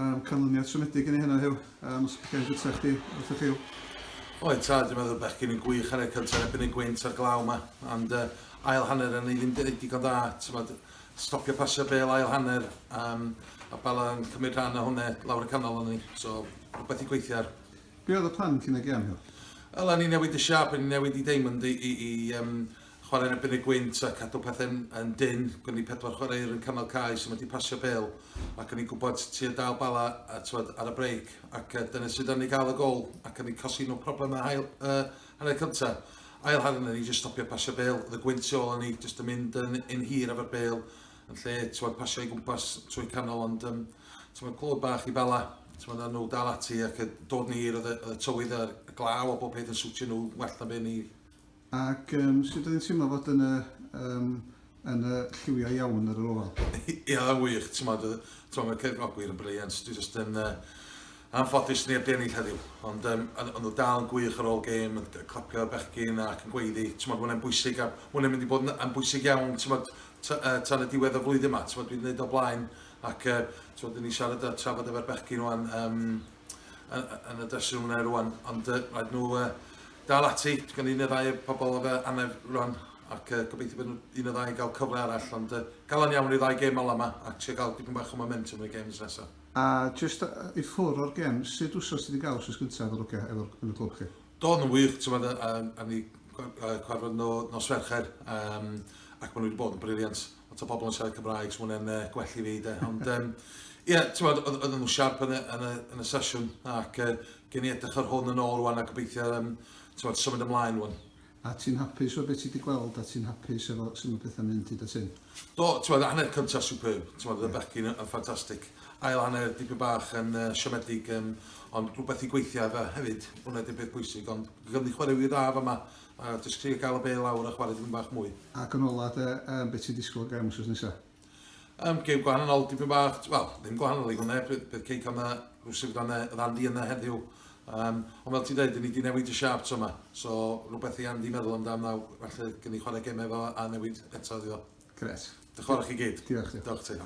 Um, canlyniad siomedig yn ei hynna, Huw. Um, os gael gyda chdi, wrth y ffil. Oed ta, dwi'n meddwl bechgyn yn gwych hanner cyntaf yn ebyn y gweint a'r glaw yma. Ond uh, ail hanner yn ei ddim digon da. Tymod, stopio pasio bel ail hanner. Um, a Bala yn cymryd rhan o hwnna lawr y canol o'n ni. So, rhywbeth i gweithio ar. Be oedd y plan cyn y gem, Hill? Wel, ni newid y siap, ni newid i Damon i, i, i um, chwarae yn erbyn y gwynt a cadw pethau'n yn dyn. Gwn ni pedwar chwaraewr yn canol cae sy'n wedi pasio bel ac o'n i'n gwybod ti yn dal bala a tywed ar y breic ac uh, dyna sydd yn ei gael y gol ac o'n i'n cosi nhw problem a hael uh, hanner cyntaf. Ail hanner o'n i'n just stopio pasio bel, oedd y gwynt i ôl o'n i just yn mynd yn, yn hir efo'r bel yn lle tywed pasio i gwmpas trwy canol ond um, tywed clod bach i bala tywed a nhw dal ati ac dod ni i'r oedd y tywydd a'r glaw a bob peth yn swtio nhw well na fe ni Ac um, sut oedd hi'n teimlo fod yn y, um, yn y lliwiau iawn ar yr ofal? Ia, wych, ti'n modd, tro mae'r cefnogwyr yn briliant, dwi jyst yn uh, anffodus neb di ennill heddiw, ond um, ond nhw dal yn gwych ar ôl gêm, yn clapio'r bechgyn ac yn gweiddi, ti'n modd, mae'n bwysig, a mae'n mynd i bod yn bwysig iawn, ti'n modd, tan y diwedd y flwyddyn yma, ti'n modd, dwi'n gwneud o blaen, ac uh, ti'n modd, ni'n siarad a trafod efo'r bechgyn o'n um, yn y dressing room yna rwan, ond uh, rhaid nhw uh, dal ati, gan un neu ddau pobl o fe anef rwan, ac uh, gobeithio bod un neu ddau gael cyfle arall, ond uh, galon iawn i ddau gêm ola yma, a trio gael dipyn bach o momentum yn y games nesaf. A just i ffwr o'r gem, sut wsos ti wedi gael wsos gyntaf o'r ogia efo'r yn y clwb chi? Do, yn wych, ti'n meddwl, a, a ni cwarfod no, nos Fercher, um, ac maen nhw wedi bod yn briliant. lot o bobl yn siarad Cymraeg, so mae'n uh, gwell i fi, de. Ond, um, ie, yeah, ti'n meddwl, oedd nhw'n siarp yn y, yn y, yn y sesiwn, ac uh, gen i edrych ar hwn yn ôl rwan, a gobeithio, um, ti'n meddwl, symud ymlaen rwan. A ti'n hapus o beth ti wedi gweld, a ti'n hapus efo sy'n mynd pethau'n mynd hyd at hyn? Do, ti'n meddwl, hanner cyntaf superb, ti'n meddwl, yeah. y bechgyn yn ffantastig. Ail hanner dipyn bach yn uh, siomedig, um, ond rhywbeth i gweithio efo hefyd, hwnna di'r peth bwysig, ond gymryd chwarae i'r raf yma, A jyst trio cael y bê lawr a chwarae dipyn bach mwy. Ac yn ola de, um, beth ti'n disgwyl o gem wrth nesa? Um, gem gwahanol, dipyn bach, wel, ddim gwahanol i hwnna, bydd Cei Cam na rhywsyn fydd e, oedd Andy yna heddiw. Um, ond fel ti dweud, ni wedi newid y siarp to yma, so rhywbeth i Andy meddwl amdano nawr, felly gen i chwarae gem efo a newid eto iddo. Gret. Diolch i chi gyd. Diolch. Diolch ti.